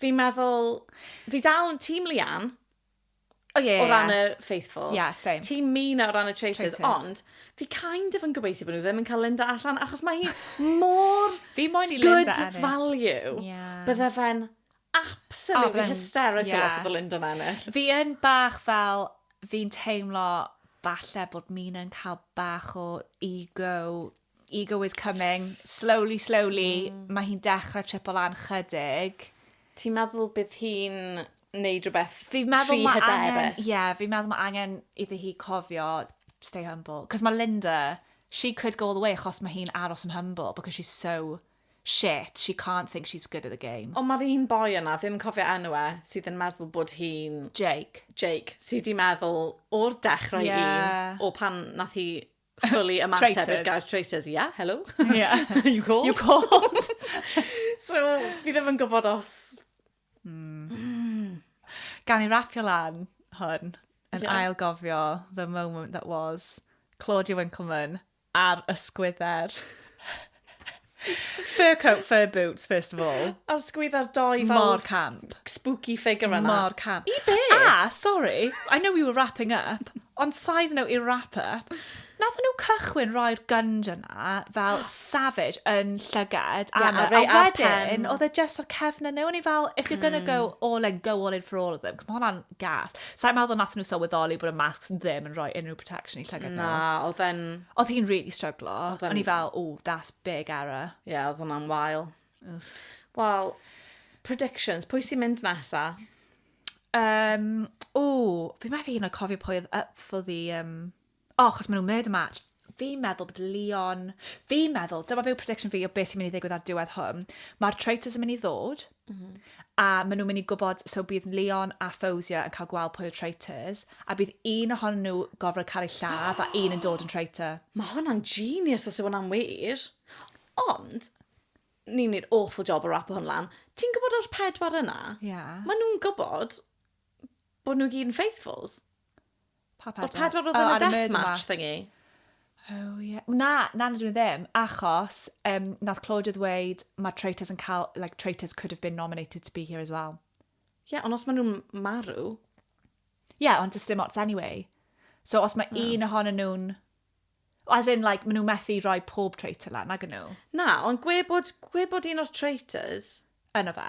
fi'n meddwl, fi dal yn tîm Leanne. O ie. O ran y faithfuls. Ie, yeah, same. Tîm Mina o ran y traitors, traitors. ond fi kind of yn gobeithio bod nhw ddim yn cael Linda allan, achos mae hi mor fi moyn i Linda ennill. good value. Yeah. Bydde fe'n absolutely oh, hysterical yeah. os oedd Linda yn ennill. Fi yn bach fel, fi'n teimlo falle bod Mina yn cael bach o ego Ego is coming. Slowly, slowly, mm. mae hi'n dechrau tripo lan chydig. Ti'n meddwl bydd hi'n neud rhywbeth fi meddwl tri hyderus? Ie, yeah, fi'n meddwl mae angen iddi hi cofio stay humble. Cos mae Linda, she could go all the way achos mae hi'n aros yn humble because she's so shit, she can't think she's good at the game. Ond mae'r un boi yna, ddim yn cofio enw e, sydd yn meddwl bod hi'n... Jake. Jake, sydd wedi meddwl o'r dechrau yeah. un, o pan nath hi fully ymateb i'r gair traitors. Yeah, hello. Yeah. you called. You called. so, fi ddim yn gwybod os... Mm. Mm. Gan i rapio lan hwn, yn yeah. ail gofio the moment that was Claudia Winkleman ar ysgwydder. Fur coat, fur boots, first of all. A sgwydda'r doi fel... Mor camp. ...spooky figure yna. Mor camp. I be? A, sorry, I know we were wrapping up, ond side note i'r wrap up, nath nhw cychwyn roi'r gunge yna fel savage yn llygad yeah, Anna, a, a wedyn oedd e just o'r cefn yna, o'n i fel, if you're gonna go hmm. all in, go all in for all of them, cos mae hwnna'n gas. Sa'n meddwl nath nhw sylweddoli bod y masks ddim yn rhoi unrhyw protection i llygad nhw. Na, oedd e'n... Oedd hi'n really stryglo. Oedd e'n- O'n i fel, oh, that's big error. Ie, yeah, oedd hwnna'n wael. Wel, predictions, pwy sy'n mynd nesa? Um, o, fi methu hyn o cofio pwy oedd up for the... Um... O, oh, chos maen nhw'n murder match. Fi'n meddwl bod Leon... Fi'n meddwl, dyma byw prediction fi o beth sy'n mynd i ddigwydd ar diwedd hwn. Mae'r traitors yn mynd i ddod. Mm. A maen nhw'n mynd i gwybod, so bydd Leon a Fawzia yn cael gweld pwy yw'r traitors, a bydd un ohonyn nhw gofrod cael ei lladd, a un yn dod yn traitor. Mae hwnna'n genius os yw hwnna'n wir. Ond, ni'n neud awful job o rapo hwn lan. Ti'n gwybod o'r pedwar yna? Ie. Yeah. Maen nhw'n gwybod bod nhw gyd yn faithfuls. Pa pedwar? O'r pedwar oedd yn y deathmatch thingy? Oh, yeah. Na, na, na, dwi'n ddim. Achos, um, nath Claudia ddweud, mae traitors yn cael, like, traitors could have been nominated to be here as well. Ie, yeah, ond os maen nhw'n marw... Ie, yeah, ond just dim ots anyway. So, os mae no. un ohonyn nhw'n... As in, like, maen nhw methu rhoi pob traitor lan, ag nhw. Na, ond gwe bod, gwe bod un o'r traitors... Yno fe.